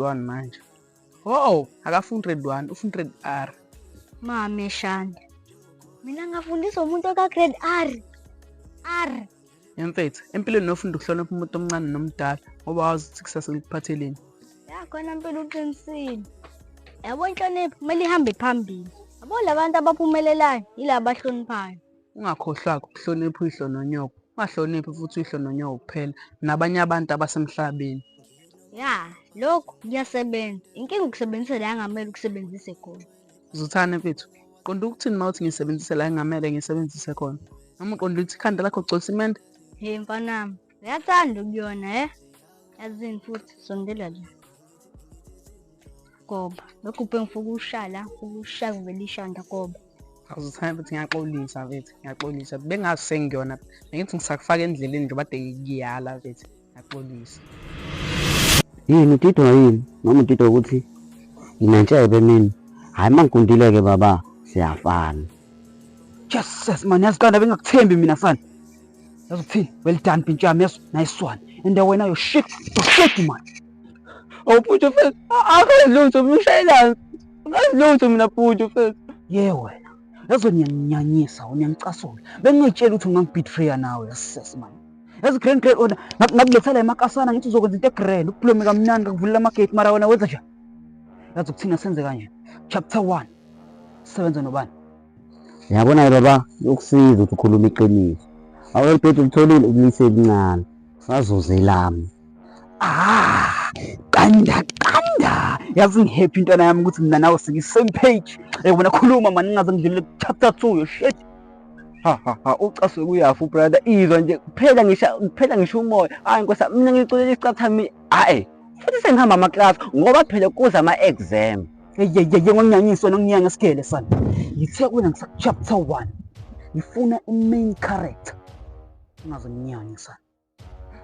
Redwan manje. Oh, akafundi Redwan, ufunda Red R. Mame Shanda. Mina ngafundisa umuntu oka grade R. R. Emfethu, empilweni nofunda ukuhlonipha umuntu omncane nomdala ngoba wazi ukuthi kusasa likuphatheleni. Ya khona impilo uqinisile. Yabo inhlonipho kumele ihambe phambili. Yabo labantu abaphumelelayo yilabo abahloniphayo. Ungakhohlwa-ke ukuhlonipha uyihlo nonyoko. Ungahloniphi futhi uyihlo nonyoko kuphela, nabanye abantu abasemhlabeni. Ya, lokhu kuyasebenza. Inkinga ukusebenzisa la engamele ukusebenzise khona. Zuthane mfethu, qonda ukuthini uma uthi ngisebenzise la engamele ngisebenzise khona? Noma uqonda ukuthi ikhanda lakho ugcwalisa imende? He mfanami, Uyathanda ukuyona eh? Yazini futhi sondela nje. Goba. Lokhu ubhe ngifuna ukushala, ukushala kuvela ishanda goba. Awuzithanda futhi ngiyaxolisa mfethu, ngiyaxolisa. Bengazi sengiyona. Bengithi ngisakufaka endleleni nje bade ngiyala mfethu. Ngiyaxolisa. Yini udidwa yini? Noma udidwa ukuthi nginentshebe mina. Hayi mangigundile-ke baba, siyafana. Jesus man, yazi kanti bengakuthembi mina fana. yazi ukuthini well done bhintsha yami yazi nice one and wena yo shit yo shit man oh bhuti mfethu akazi lutho mina ushayelani akazi lutho mina bhuti mfethu ye wena yazi niyaninyanyisa niyangicasula bengingayitshela ukuthi ungangibitreya nawe yasisesi mani yazi grand grand ona ngakuletha la emakasana ngithi uzokwenza into egrand ukuphulome kamnani ngakuvulela amagate mara wena wenza njani yazi ukuthina senze kanje chapter one sebenza nobani Yabona-ke baba yokusiza ukuthi ukhuluma iqiniso. Awelibhedi ulitholile ubulise elincane. Sazuza elami. Ah, qanda qanda. Yazi ngihappy intwana yami ukuthi mina nawe sike same page. Eh wena khuluma mani ngaze ngidlule chapter 2 yo shit. Ha ha ha ucaswe kuyafu brother izwa nje kuphela ngisha kuphela ngisho umoya. Hayi nkosa mina ngiculela isicathami. Hayi. Futhi sengihamba ama class ngoba phela kuza ama exam. eyeyeye wanginyanyiswa nanginyanga sigele sana ngithe wena ngisachapter one ngifuna i-main character ungazonginyanya sana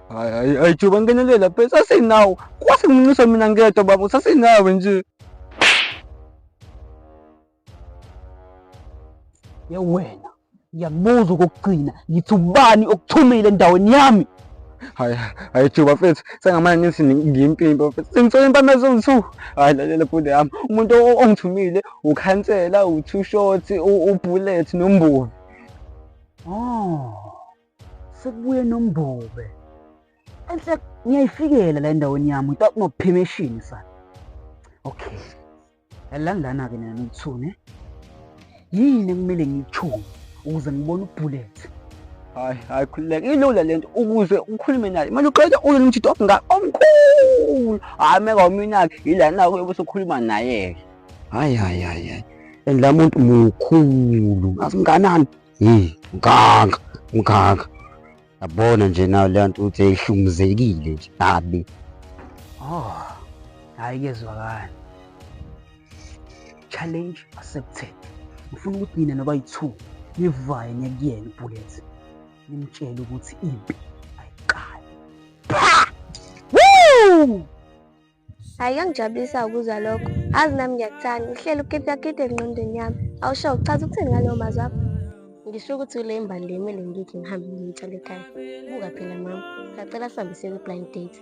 hayi hayi hayi juba ngenelela pe sasinawo kwase ngincisa mina ngedwa baba sasinawe nje yewena Ngiyakubuza okokugcina ngithi ubani okuthumile endaweni yami. Hayi hayi Juba mfethu sengamane ngithi ngiyimpimpa mfethu. Sengithola impama eziwu-2. Hayi lalela bhuti yami. Umuntu o- ongithumile ukhansela, u-two short, u- u-bullet nombuki. Oh. Sekubuye nombube. Enhle ngiyayifikela la endaweni yami without no permission sa. Okay. Yalani lana-ke nina nithune. Yini ekumele ngiyithunge ukuze ngibone ubullet? Hayi, hayi khululeka. Ilula lento ukuze ukhulume naye. Kumele uqede uye nomjito omngaka omkhulu. Hayi meka uminake yila nako yokuthi ukhuluma naye. Hayi hayi hayi hayi. And la muntu mukhulu. Ngazi mnganani? Hey, mganga, mganga. Yabona nje nayo leya nto ukuthi ehlumuzekile nje kabi. Oh. Hayi kezwakala. Challenge accepted. Ngifuna ukuthi nina noba yi-two nivaye nekuyena uBullet. Nimtshele ukuthi impi ayiqali. Pha! Woo! Hayi kangijabulisa ukuzwa lokho. Azi nami ngiyakuthanda. Uhlelo ukiphi akiphi engqondweni yami. Awusho uchaza ukuthini ngalowo mazwi akho? Ngisho ukuthi ule imbali le kumele ngithi ngihambe ngiyitshale ekhaya. Buka phela mama. Ngacela sihambise kwi-blind date.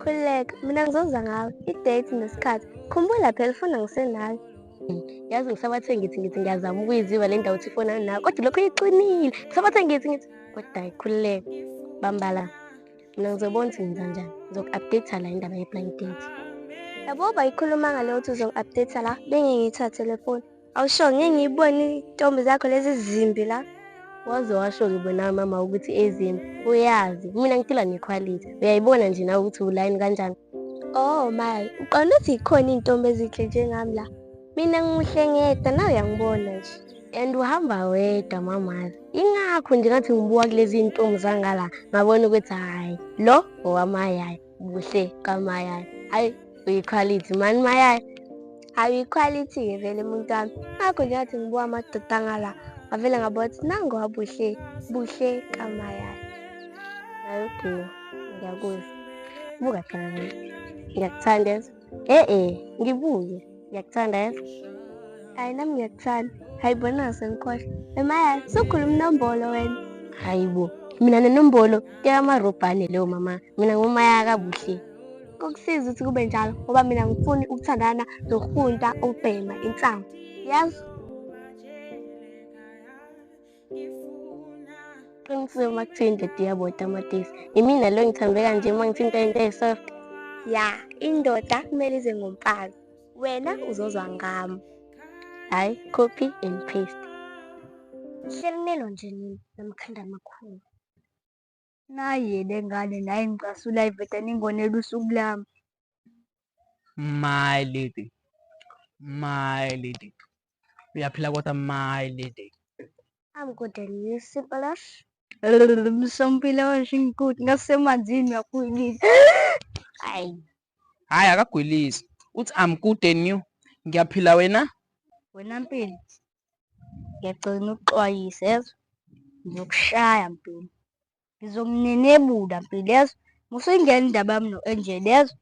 Khululeka, mina ngizoza ngawe. I-date nesikhathi. Khumbula phela ufuna ngisenawe. Yazi ngisabathe ngithi ngithi ngiyazama ukuyiziba le ndawo ukuthi ifona nawe. Kodwa lokho iqinile. Ngisabathe ngithi ngithi kodwa ayikhululeke. Bambala. Mina ngizobona ukuthi ngenza njani. Ngizoku-update la indaba ye-blind date. Yabo bayikhuluma ngale ukuthi uzongi-update la bengeke ngiyithathe le foni. Awusho ngeke ngiyibone izintombi zakho lezi zimbi la. Waze washo ngibona mama ukuthi ezimbi. Uyazi mina ngiphila nekhwalithi. Uyayibona nje nawe ukuthi ulayini kanjani. Oh my, uqonda ukuthi ikhona izintombi ezinhle njengami la. Mina ngimuhle ngedwa nawe uyangibona nje. And uhamba wedwa mamazi. ingakho nje ngathi ngibuka kulezi ntombi zangala ngabona ukuthi hhayi lo ngowamayayi buhle kamayayi hhayi uyikhwalithi mani mayayi hhayi uyikhwalithi-ke vele umuntu wami ngakho nje ngathi ngibuka amadoda angala ngavele ngabona ukuthi nango wabuhle buhle kamayayi nayo okay ngiyakuzwa buka phela ngiyakuthanda Eh eh, ngibuye. Ngiyakuthanda yebo. Hayi nami ngiyakuthanda. Hayi bona sengikhohle. Emaya, sukhuluma inombolo wena. Hayibo, mina nenombolo kekamarobhane leyo mama. Mina ngumaya kabuhle. Kokusiza ukuthi kube njalo ngoba mina ngifuni ukuthandana nokufunta ukubhema insangu. Yazi? Qinisile makuthiwa indoda iyabota amatisi. Yimina lo ngithambe kanje uma ngithi into into esoft. Ya, indoda kumele ize ngomfazi. Wena uzozwa ngami. Hayi, copy and paste. Hlelinelo nje nini namkhanda amakhulu. Nayi lengane nayi ngicasula iveda ningonela usuku lami. My lady. My lady. Uyaphila kodwa my lady. I'm good and you Simpalash. Msompila washingikuthi ngasemanzini uyakhulisa. Hayi. Hayi akagwilisi. Uthi I'm good and you. Ngiyaphila wena? Wena mpilo. ngiyagcina ukuxwayisa yezwa ngiyokushaya mpilo ngizomnenebula mpilo yezwa musuyingena indaba yami no-angel yezwa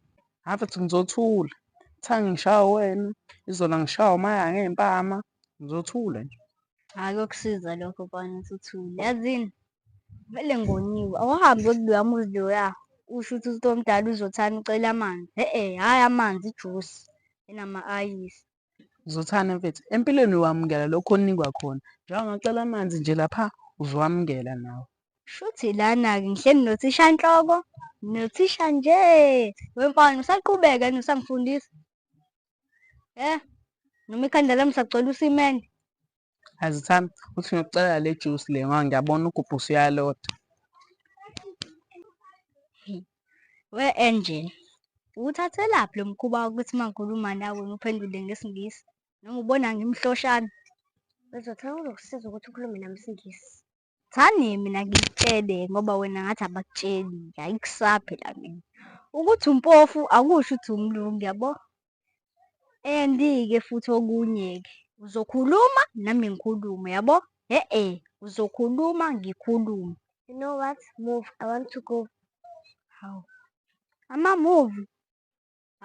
hhayi futhi ngizothula kuthiwa ngishaya wena izona ngishaya umaya ngey'mpama ngizothula nje hhayi kokusiza lokho kwana ukuthi uthule yazini vele ngoniwe awuhambi yokuloya muzi loya usho ukuthi umuntu omdala uzothanda ucela amanzi e-e hhayi amanzi ijusi enama-ayisi Zothane mfethu, empilweni wamukela lokho onikwa khona. Njengoba ngacela amanzi nje lapha uzowamukela nawe. Shuthi lana-ke ngihleli nothishanhloko nothisha nje wemfana usaqhubeka yini usangifundisa? Eh, noma ikhanda lami sagcwele usimende. Azithanda uthi ngiyokucelela le juice le ngoba ngiyabona ugubhu usuyalota. We Angel, uwuthathelaphi lo mkhuba wokuthi uma ngikhuluma nawe ngiphendule ngesiNgisi? Noma ubona ngimhloshana? Uzothanda ukukusiza ukuthi ukhulume nami isiNgisi. Thani mina ngikutshele ngoba wena ngathi abakutsheli ayikusaphe la mina ukuthi umpofu akusho ukuthi umlungu yabo and ke futhi okunye ke uzokhuluma nami ngikhulume yabo he e uzokhuluma ngikhulume you know what move i want to go how ama move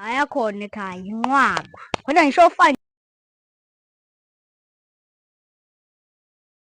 ayakhona ekhaya inqwaba khona ngisho fine